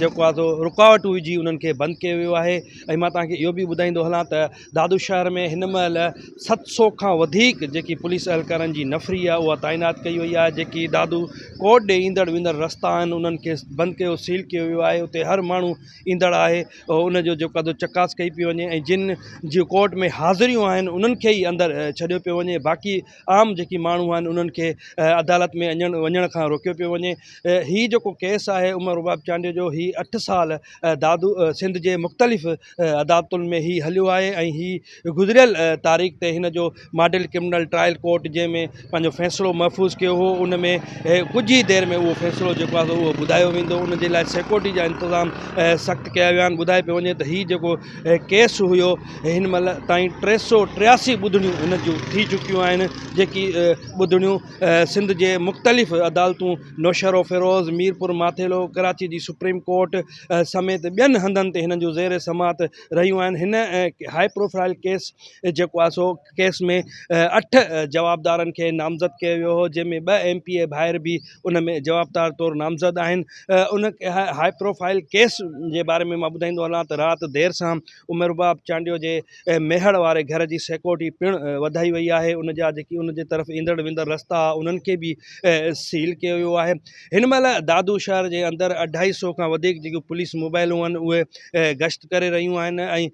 جيڪو آهي سو رڪاوٽون وجهي انهن کي بند ڪيو ويو آهي ۽ مان توهان کي اهو به ٻڌائيندو هلان ته دادو شهر ۾ هن مهل ست سو کان وڌيڪ جيڪي پوليس اهلڪارن جي نفري آهي اها تعينات ڪئي وئي آهي جيڪي دادو ڪورٽ ڏي ايندڙ ويندڙ رستا آهن انهن کي بند ڪيو سيل ڪيو ويو آهي اتي هر ماڻهو ايندڙ آهي ان جو جيڪو آهي چڪاس ڪئي پئي وڃي ۽ جن جي ڪورٽ ۾ حاضريون آهن انهن کي ئي اندر ڇڏيو پيو وڃي باقي عام جيڪي ماڻهو آهن انهن کي عدالت ۾ اڃڻ وڃڻ کان روڪيو پيو وڃي هي جيڪو ڪيس آهي عمر رباب چانڊيو جو هي اٺ سال دادو سنڌ جي مختلف عدالتن ۾ هي هليو آهي ۽ هي گذريل تاريخ تي هن جو ماڊل ڪرمنل ٽرائل ڪورٽ جنهن ۾ پنهنجو فيصلو محفوظ ڪيو هو ان ۾ ڪجهه ئي دير ۾ اهو فيصلو جيڪو آهي اهو ٻڌايو ويندو ان جي لاء سيڪورٽي جا انتظام سخت ڪيا ويا آهن ٻڌائي پيو وڃي ته هي جيڪو ڪيس هيو هن مهل تائين ٽي سؤ ٽياسي ٻڌڻيون هن جون ٿي چڪيون آهن جيڪي ٻڌڻيون سنڌ جي مختلف عدالتون نوشهروفيروز ميرپور ماٿيلو ڪراچي جي سپريم ڪورٽ سميت ٻين هنڌن تي هنن جون زير سماعت رهيون آهن هن هاء پروفائل ڪيس جيڪو آهي سو ڪيس ۾ اٺ جوابدارن کي نامزد ڪيو ويو هو جنهن ۾ ٻه ايم پي اي ڀائر به ان ۾ جوابدار طور نامزد آهن ان هاء پروفائل ڪيس جي باري ۾ مان ٻڌائيندو هلان ته رات دير سان عمر رباب چانڊيو جي ميهڙ واري گهر جي سيڪورٽي پڻ وڌائي وئي آهي ان جا جيڪي ان جي طرف ايندڙ ويندڙ رستا انهن کي به سيل ڪيو ويو آهي هن مهل دادو شهر جي اندر اڍائي سو کان وڌيڪ جيڪي پوليس موبائلون آهن اهي گشت ڪري رهيون آهن ۽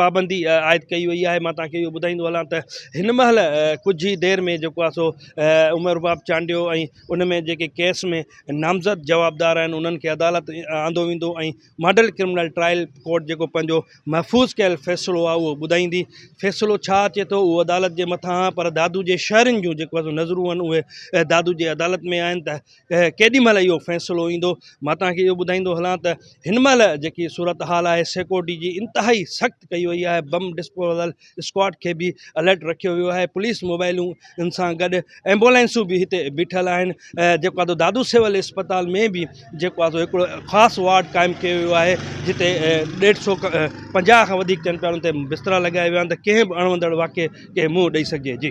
پابندي عائد ڪئي وئي آهي مان توهان کي اهو ٻڌائيندو هلان ته هن مهل ڪجهه ئي دير ۾ جيڪو آهي سو عمر رباب چانڊيو ۽ ان ۾ جيڪي ڪيس ۾ نامزد جوابدار آهن انهن کي عدالت آندو ويندو ۽ ماڊل ڪرمنل ٽرائل ڪورٽ جيڪو پنهنجو محفوظ ڪيل فيصلو آهي اهو ٻڌائيندي فيصلو ڇا اچي ٿو اهو عدالت جي مٿان آهي پر دادو جي شهرين جون جيڪو آهي سو نظرون آهن اهي دادو جي عدالت ۾ آهن ته ڪيڏي مهل اهو فيصلو ايندو مان توهان کي اهو ٻڌائيندو هلان ته هن مهل جيڪي صورت حال آهي سيڪورٽي جي انتهائي سخت ڪئي وئي آهي بم ڊسپوزل اسڪواڊ کي به الرٽ رکيو ويو آهي پوليس موبائلون ان سان گڏ ايمبولينسون به هتي بيٺل آهن جيڪو آدو دادو سول اسپتال ۾ به جيڪو آدو هڪڙو خاص وارڊ قائم ڪيو ويو آهي جتي ڏيڍ سو پنجاهه کان وڌيڪ چئن پيارن تي بسترا لڳايا ويا آهن ته ڪنهن به اڻوندڙ واقعي کي منهن ڏئي سگهجي جي